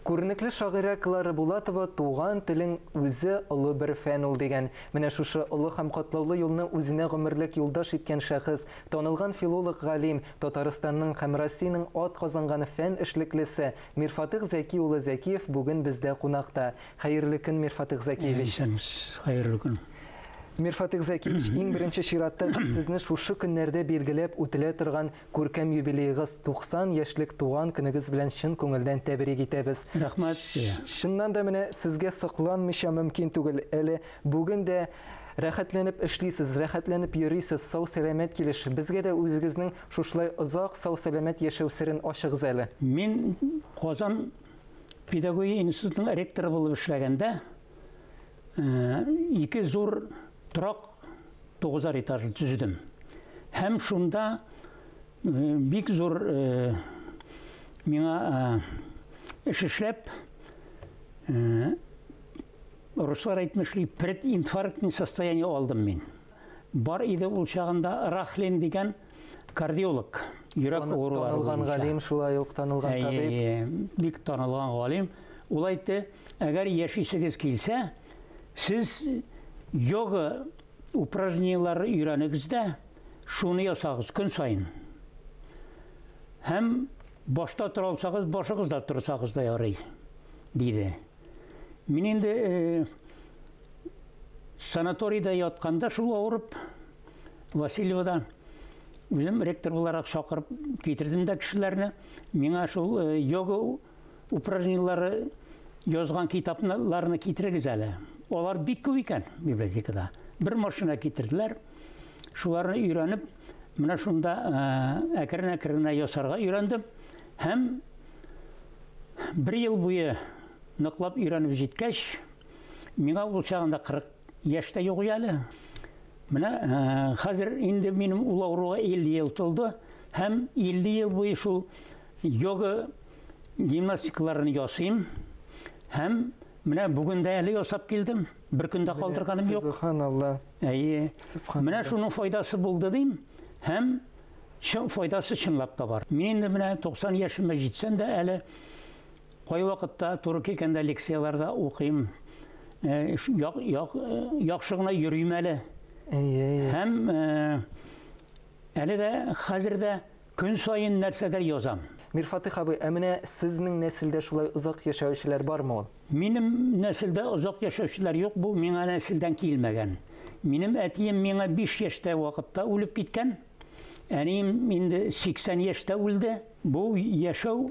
Күренекле шагыйрә Клара Булатова Туган телең үзе олы бер фән ул дигән. Менә шушы олы һәм катлаулы юлны үзенә гомерлек юлдаш иткән шәхес, танылган филолог-галим, Татарстанның һәм Россиянең атказанган фән эшлеклесе Мирфатыйх Зәки улы Зәкиев бүген бездә кунакта. Хәерле көн, Мирфатыйх Зәкиевич! Исәнмесез, хәерле көн! Мирфатих Зәкиевич, иң беренче чиратта без сезне шушы көннәрдә билгеләп үтелә торган күркәм юбилеегыз, 90 яшьлек туган көнегез белән чын күңелдән тәбрик итәбез. Рәхмәт. Чыннан да менә сезгә сокланмыйча мөмкин түгел, әле бүген дә рәхәтләнеп эшлисез, рәхәтләнеп йөрисез, сау-сәламәт килеш. Безгә дә үзегезнең шушылай озак сау-сәламәт яшәү серен ачыгыз әле. Мин Казан педагогия институтының ректоры булып эшләгәндә, ике зур торак тугызар этажлы төзедем. Һәм шунда бик зур миңа эш эшләп руслар әйтмешли прединфарктный состояние алдым мин бар иде ул чагында рахлин дигән кардиолог, йөрәк авырулары танылган галим шулай ук танылган табиб. Бик танылган галим. Ул әйтте, әгәр яшисегез килсә, сез йога упражнениеләре өйрәнегез дә, шуны ясагыз көн саен. Һәм башта тора алсагыз, башыгыз да торсагыз да ярый, диде. Мин инде э, санаторийда ятканда шул авырып Васильевода үзем ректор буларак чакырып китердем дә кешеләрне. Миңа шул э, йога упражнениеләре язган китапларны китерегез әле. Алар бик күп икән библиотекада. Бер машина китерделәр. Шуларны өйрәнеп, менә шунда э, әкрен-әкрен ясарга өйрәндем һәм бер ел буе ныклап өйрәнеп җиткәч, миңа ул чагында 40 Яшь тә юк әле. Менә хәзер инде минем ул авыруга 50 ел тулды һәм 50 ел буе шул йога гимнастикаларын ясыйм һәм менә бүген дә әле ясап килдем. Бер көндә калдырганым юк. Субханалла. Әйе. Менә шуның файдасы булды дим һәм чын файдасы чынлап та бар. Мин инде менә 90 яшемә җитсәм дә әле Кайвакытта туры килгәндә лекцияләрдә укыйм. Э, як, як, э, яхшы гына йөрим әле. Һәм э, әле дә хәзер дә көн саен нәрсәдер язам. Мирфатих абый, ә менә сезнең нәселдә шулай озак яшәүчеләр бармы ул? Минем нәселдә озак яшәүчеләр юк, бу миңа нәселдән килмәгән. Минем әтием миңа 5 яшьтә вакытта үлеп киткән. Әнием инде 80 яшьтә үлде. Бу яшәү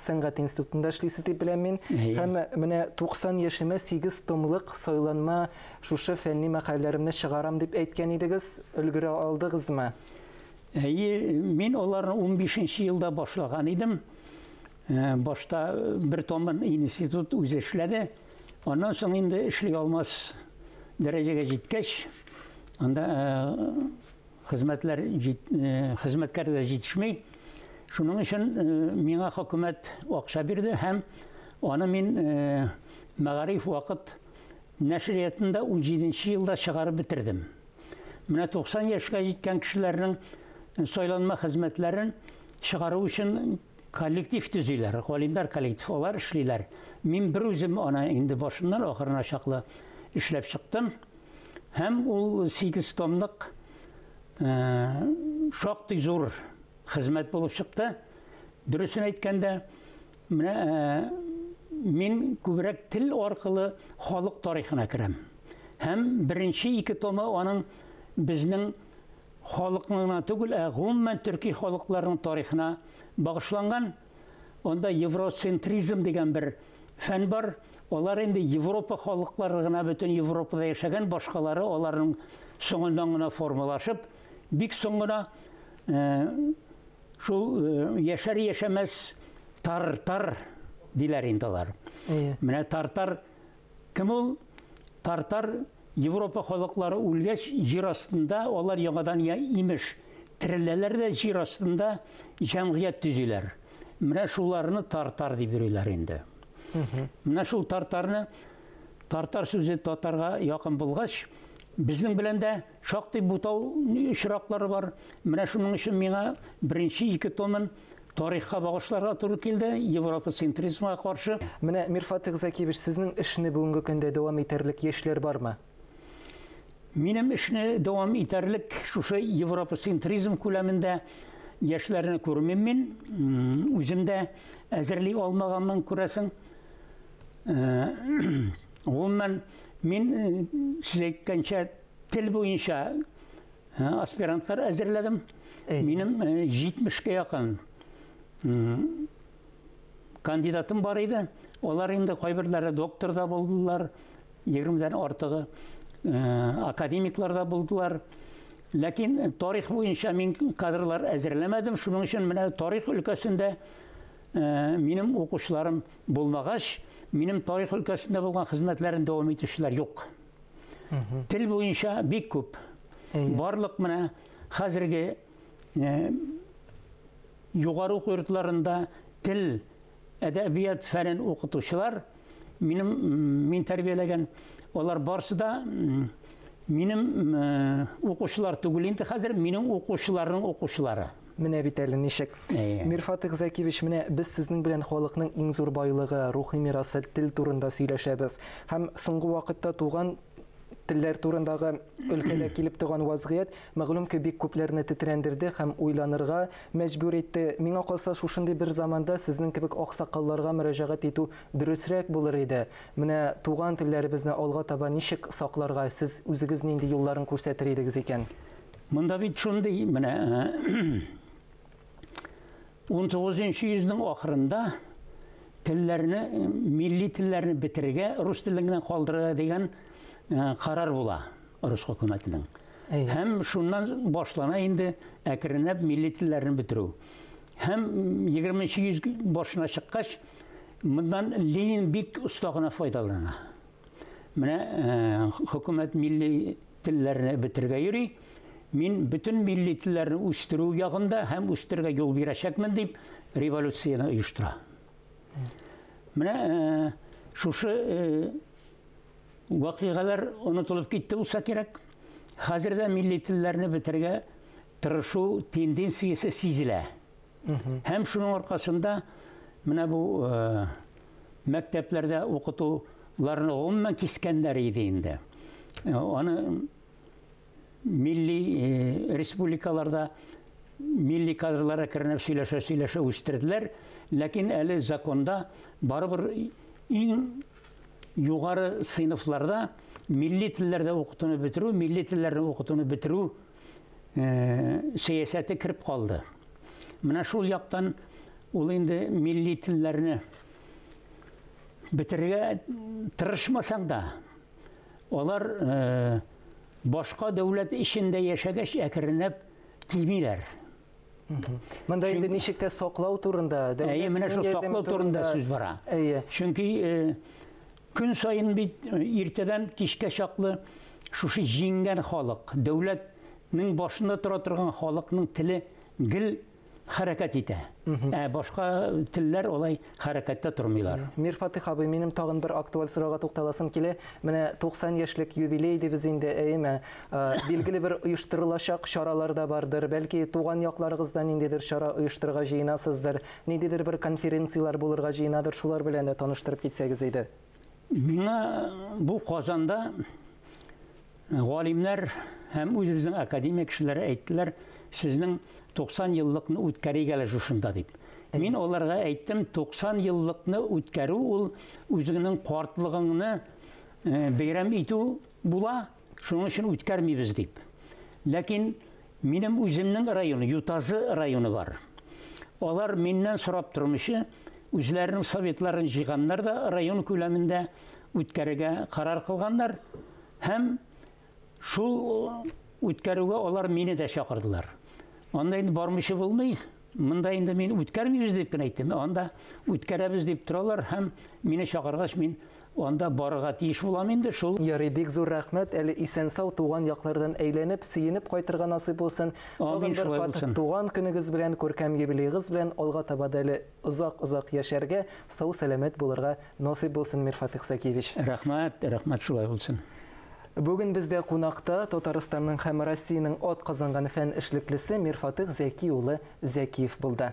Сәнгать институтында эшлисез дип беләм мин. Һәм менә 90 яшемә 8 томлык сайланма шушы фәнни мәкаләләремне чыгарам дип әйткән идегез. Өлгерә алдыгызмы? Әйе, мин аларны 15 елда башлаган идем. Э, башта бер томын институт үзе эшләде. Аннан соң инде эшли алмас дәрәҗәгә җиткәч, анда э, Хезмәтләр җит, э, хезмәткәрләр җитешми. Шуның өчен э, миңа хөкүмәт акча бирде һәм аны мин э, Мәгариф вакыт нәшриятында 17 елда чыгарып бетердем. Менә 90 яшькә җиткән кешеләрнең сайланма хезмәтләрен чыгару өчен коллектив төзиләр, галимнәр коллектив, алар эшлиләр. Мин бер үзем аны инде башыннан ахырына чаклы эшләп чыктым. Һәм ул сигез томлык шактый зур хезмәт булып чыкты. Дөресен әйткәндә, менә мин күбрәк тел аркылы халык тарихына керәм. Һәм беренче ике томы аның безнең халыкның гына түгел, ә гомумән төрки халыкларның тарихына багышланган. Анда евроцентризм дигән бер фән бар. Алар инде Европа халыклары гына бөтен Европада яшәгән, башкалары аларның соңыннан гына формалашып, бик соң гына э, шул э, яшәр яшәмәс тар-тар диләр инде алар. Менә тартар Кем ул? Тартар, Европа халыклары үлгәч, җир астында алар яңадан я имеш, тереләләр дә җир астында җәмгыять төзиләр. Менә шуларны тартар дип йөриләр инде. Менә шул тартарны тартар сүзе татарга якын булгач, безнең белән дә Шактый бутау очраклары бар. Менә шуның өчен миңа беренче ике томын тарихка багышларга туры килде, Европа центризмга каршы. Менә Мирфат Игзакиевич, сезнең эшне бүгенге көндә дәвам итәрлек яшьләр бармы? Минем эшне дәвам итәрлек шушы Европа центризм күләмендә яшьләрне күрмим мин. Үзем дә әзерли алмаганмын, күрәсең. Гомумән, мин э, сез әйткәнчә Тел буенча аспирантлар әзерләдем. Минем 70-кә якын кандидатым бар иде. Алар инде кайберләре доктор да булдылар, 20-дән артыгы академиклар да булдылар. Ләкин тарих буенча мин кадрлар әзерләмәдем, шуның өчен менә тарих өлкәсендә минем укучыларым булмагач, минем тарих өлкәсендә булган хезмәтләрен дәвам итүчеләр юк. Тел буенча бик күп. Барлык менә хәзерге югары уку йортларында тел, әдәбият фәнен укытучылар, минем мин тәрбияләгән, алар барсы да минем укучылар түгел инде хәзер, минем укучыларның укучылары. Менә бит әле ничек. Мирфатык Зәкиевич, менә без сезнең белән халыкның иң зур байлыгы, рухи мирасы, тел турында сөйләшәбез. Һәм соңгы вакытта туган телләр турындагы өлкәдә килеп туган вазгыять, мәгълүм ки, бик күпләрне тетрәндерде һәм уйланырга мәҗбүр итте. Миңа калса, шушындый бер заманда сезнең кебек аксакалларга мөрәҗәгать итү дөресрәк булыр иде. Менә туган телләребезне алга таба ничек сакларга, сез үзегез нинди юлларын күрсәтер идегез икән? Монда бит шундый, менә 19-нчы йөзнең ахырында телләрне, милли телләрне бетерергә, рус телен генә калдырырга дигән карар була рус хөкүмәтенең. Һәм шуннан башлана инде әкренләп милли телләрне бетерү. Һәм 20-нчы йөз башына чыккач, моннан Ленин бик оста гына файдалана. Менә хөкүмәт милли телләрне бетерергә йөри. Мин бөтен милли телләрне үстерү ягында һәм үстерергә юл бирәчәкмен дип революцияне оештыра. Менә э, шушы э, вакыйгалар онытылып китте булса кирәк. Хәзер дә милли телләрне бетерергә тырышу тенденциясе сизелә. Һәм шуның аркасында менә бу э, мәктәпләрдә укытуларны гомумән кискәннәр иде инде. Э, аны милли э, республикаларда милли кадрлар әкренләп сөйләшә сөйләшә үстерделәр, ләкин әле законда барыбер иң югары сыйныфларда милли телләрдә укытуны бетерү, милли телләрне укытуны бетерү сәясәте кереп калды. Менә шул яктан ул инде милли телләрне бетерергә тырышмасаң да, алар э, башка дәүләт эчендә яшәгәч әкренләп кимиләр. Монда инде ничек тә саклау турында, дәүләт менә шул саклау турында сүз бара. Чөнки э, Көн саен бит иртәдән кичкә чаклы шушы җиңгән халык, дәүләт нең башында тора торган халыкның теле гел хәрәкәт итә. Ә башка телләр алай хәрәкәттә тормыйлар. Мир Фатих абый, минем тагын бер актуаль сорауга тукталасым килә. Менә 90 яшьлек юбилей дибез инде, әйеме? Билгеле бер оештырылачак чаралар да бардыр. Бәлки туган якларыгызда ниндидер чара оештырырга җыенасыздыр. Ниндидер бер конференцияләр булырга җыенадыр, шулар белән дә таныштырып китсәгез иде. Миңа бу Казанда галимнәр һәм үзебезнең академия кешеләре әйттеләр, сезнең 90 еллыкны үткәрик әле шушында дип. Мин аларга әйттем, 90 еллыкны үткәрү ул үзеңнең картлыгыңны бәйрәм итү була, Шуның өчен үткәрмибез дип. Ләкин минем үземнең район, Ютазы районы бар. Алар миннән сорап тормыйча, үзләренең советларын җыйганнар да район күләмендә үткәрергә карар кылганнар һәм шул үткәрүгә алар мине дә чакырдылар. Анда инде бармыйча булмый, Монда инде мин үткәрмибез дип кенә әйттем. Анда үткәрәбез дип торалар һәм мине чакыргач мин анда барырга тиеш булам инде шул. Ярый, бик зур рәхмәт, әле исән-сау туган яклардан әйләнеп, сөенеп кайтырга насыйп булсын. Тагын бер кат туган көнегез белән, күркәм юбилеегыз белән алга таба да әле озак-озак яшәргә, сау-сәламәт булырга насыйп булсын, Мирфат Иксакиевич. Рәхмәт, рәхмәт шулай булсын. Бүген бездә кунакта Татарстанның һәм Россиянең атказанган фән эшлеклесе Мирфатыйх Зәки улы Зәкиев булды.